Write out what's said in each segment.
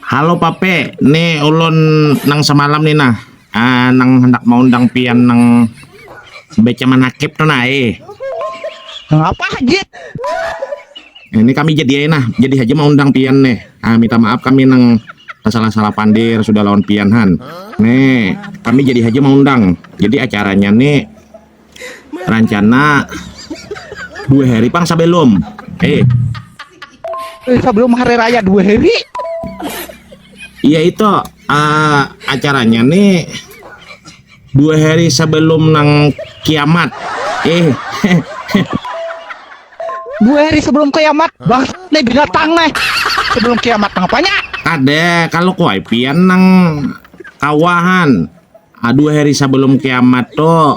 Halo Pape, nih ulun nang semalam nih nah, uh, nang hendak maundang pian nang baca manakib tuh nah eh. Apa haji? Ini kami jadi nah, jadi haji maundang pian nih. Ah, minta maaf kami nang salah-salah pandir sudah lawan pian han. Nih, kami jadi haji maundang. Jadi acaranya nih rancana dua hari pang sebelum eh Eh, sebelum hari raya dua hari iya itu eh, acaranya nih dua hari sebelum nang kiamat eh dua hari sebelum kiamat bang nih binatang nih sebelum kiamat ngapanya ada kalau kuaipian nang kawahan Aduh hari sebelum kiamat tuh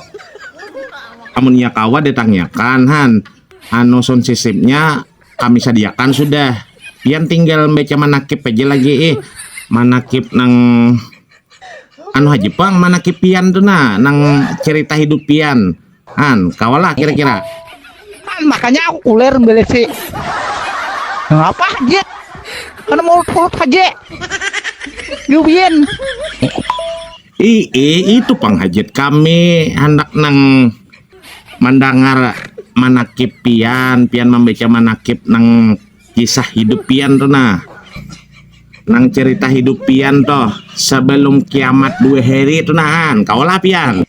amun iya kawa ditanyakan han anu sound systemnya kami sadiakan sudah pian tinggal membaca manakib aja lagi ih manakib nang anu haja pang manakib pian tuh nah nang cerita hidup pian Han, kawalah kira-kira. Han, makanya aku kuler beli si. Ngapa aja? Karena mau mulut aja. Yubian. I, i, itu penghajat kami hendak nang mendengar manakib pian, pian membaca manakib nang kisah hidup pian tuh nah nang cerita hidup pian toh sebelum kiamat dua hari itu nahan kau lah pian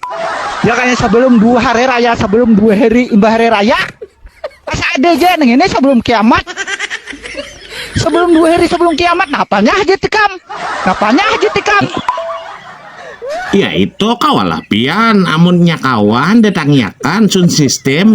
ya kayak sebelum dua hari raya sebelum dua hari imbah hari raya pas ada aja neng ini sebelum kiamat sebelum dua hari sebelum kiamat napanya aja tikam napanya aja tikam ya itu kau lah pian amunnya kawan datangnya kan sun sistem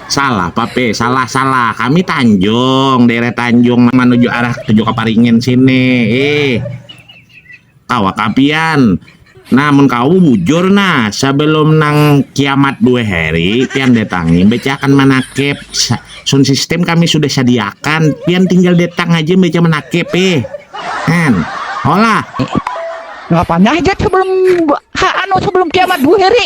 Salah, Pape. Salah, salah. Kami Tanjung, daerah Tanjung menuju arah tujuh Kaparingin sini. Eh, kawa kapian. Nah, mun kau bujur nah, sebelum nang kiamat dua hari, pian datangi, bacakan manakib. Sun sistem kami sudah sediakan, pian tinggal datang aja baca manakib eh. Kan, hola. Ngapanya aja sebelum ha, anu sebelum kiamat dua hari?